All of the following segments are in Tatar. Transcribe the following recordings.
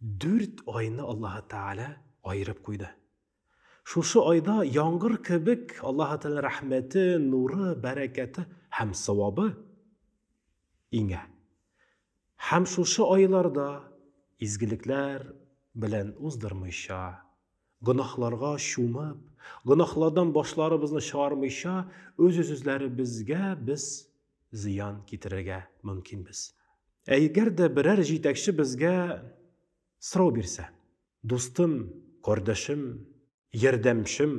Дүрт айны Аллаһы Тәгалә аерып куйды. Шушы айда яңгыр кебек Аллаһы Тәгалә рәхмәте, нуры, бәрәкәте һәм савабы иңә. Һәм шушы айларда изгелекләр белән уздырмыйча, гөнаһларга чумып, гөнаһлардан башларыбызны чыгармыйча, үз-үзләребезгә без зыян китерергә мөмкинбез. Ә эгәр дә берәр җитәкче безгә сорау бирсә, дустым, кардәшем, ярдәмчем,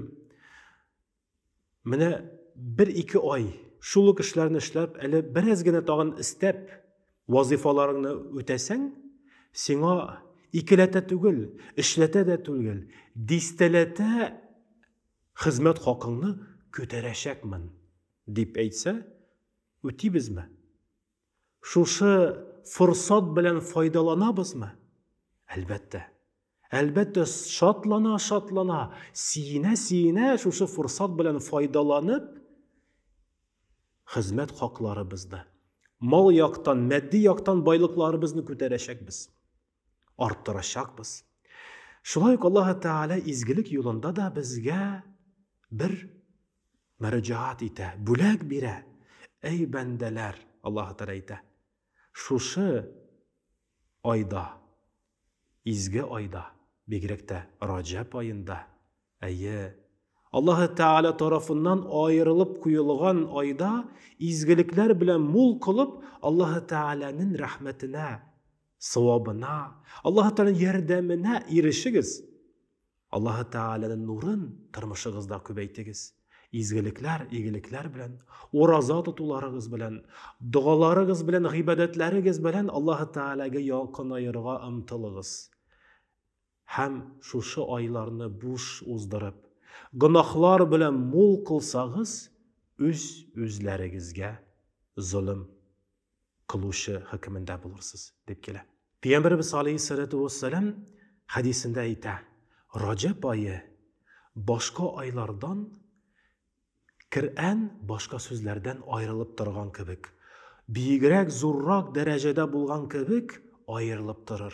менә бер-ике ай шул ук эшләрне эшләп, әле бераз генә тагын истәп, вазыйфаларыңны үтәсәң, сиңа икеләтә түгел, эшләтә дә түгел, дистәләтә хезмәт хакыңны күтәрәчәкмен. Дип әйтсә, үтибезме? Шушы форсат белән файдаланабызмы? Әлбәттә. Әлбәттә, шатлана-шатлана, сиенә-сиенә шушы форсат белән файдаланып, хезмәт хакларыбызны, мал яктан, матди яктан байлыкларыбызны күтәрәчәкбез. арттырачакбыз. Шулай ук Аллаһы Тәгалә изгелек юлында да безгә бер мөрәҗәгать итә, бүләк бирә. Әй бәндәләр, Аллаһы Тәгалә әйтә, шушы айда, изге айда, бигрәк тә Раҗаб аенда, әйе, Аллаһы Тәгалә тарафыннан аерылып куелган айда изгелекләр белән мул кылып Аллаһы Тәгаләнең рәхмәтенә Савабына, Аллаһы Тәгаләнең ярдәменә ирешегез. Аллаһы Тәгаләнең нурын тормышыгызда күбәйтегез. Изгелекләр, игелекләр белән, ураза тотуларыгыз белән, догаларыгыз белән, гыйбадәтләрегез белән Аллаһы Тәгаләгә якынаерга омтылыгыз. Һәм шушы айларны буш уздырып, гөнаһлар белән мул кылсагыз, үз-үзләрегезгә золым. кылучы хөкемендә булырсыз, дип килә. Пәйгамбәребез алейһиссәләтү вәссәлам хәдисендә әйтә, Раҗәб ае башка айлардан Коръән башка сүзләрдән аерылып торган кебек, биегрәк, зуррак дәрәҗәдә булган кебек аерылып торыр.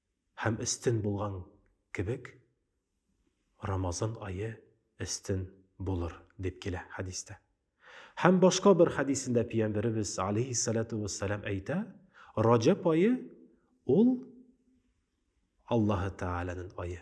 Һәм өстен булган кебек Рамазан ае өстен булыр, дип килә хәдистә. Һәм башка бер хәдисендә пиямберебез, алейһиссалату вәссәлам, әйтә, Раҗәб ае ул Аллаһы Тәгаләнен ае.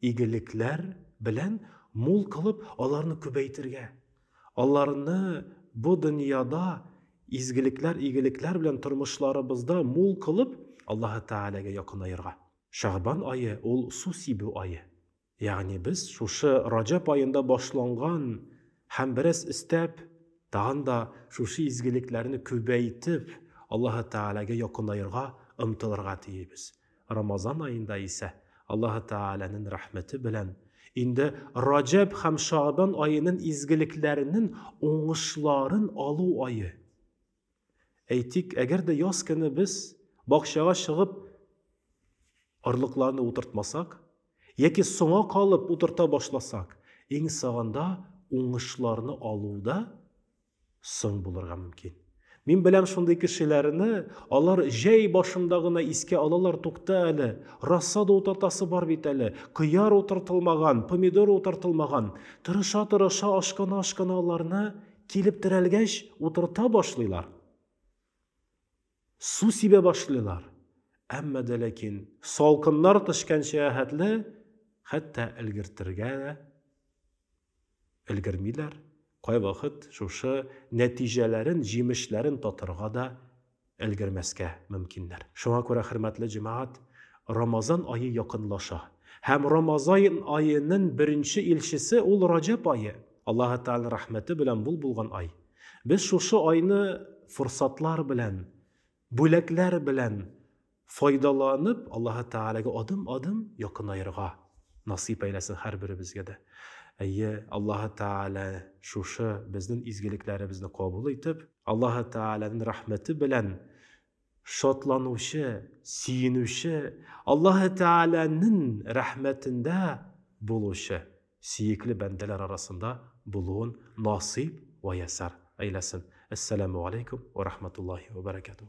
Игелекләр белән мул кылып аларны күбәйтергә, аларны бу дөньяда изгелекләр, игелекләр белән тормышларыбызда мул кылып Аллаһы Тәгаләгә якынаерга. Шәгъбан ае ул су сибү ае. Ягъни без шушы Раҗәб аенда башланган һәм бераз өстәп, тагын да шушы изгелекләрне күбәйтеп Аллаһы Тәгаләгә якынаерга омтылырга тиебез. Рамазан аенда исә Аллаһы Тәгаләнен рәхмәте белән инде Раҗәб һәм Шагъбан аенын изгелекләренен уңышларын алу ае. Әйтик, әгәр дә яз көне без бакчага чыгып орлыкларны утыртмасак, яки соңа калып утырта башласак, иң саганда уңышларны алуда Соң булырга мөмкин. Мин беләм шундый кешеләрне, алар җәй башында гына искә алалар, тукта әле, рассада утыртасы бар бит әле, кыяр утыртылмаган, помидор утыртылмаган. Тырыша-тырыша, ашкана-ашкана аларны килеп терәлгәч, утырта башлыйлар. Су сибә башлыйлар. Әмма дә ләкин салкыннар төшкәнчә хәтле хәтта өлгертергә дә Өлгермиләр, кайвакыт шушы нәтиҗәләрен, җимешләрен татырга да өлгермәскә мөмкиннәр. Шуңа күрә, хөрмәтле җәмәгать, Рамазан ае якынлаша. Һәм Рамазаен аенын беренче илчесе ул Раҗәб ае, Аллаһы Тәгаләнең рәхмәте белән мул булган ай. Без шушы айны форсатлар белән Бүләкләр белән файдаланып, Аллаһы Тәгаләгә адым-адым якынаерга насыйп әйләсен һәрберебезгә дә. Әйе, Аллаһы Тәгалә шушы безнең изгелекләребезне кабул итеп, Аллаһы Тәгаләнең рәхмәте белән шатланучы, сөенүче, Аллаһы Тәгаләнең рәхмәтендә булучы сөекле бәндәләр арасында булуын насыйп вә ясар әйләсен. Әссәламү алейкум вә рахматуллаһи вә бәрәкәтүһ.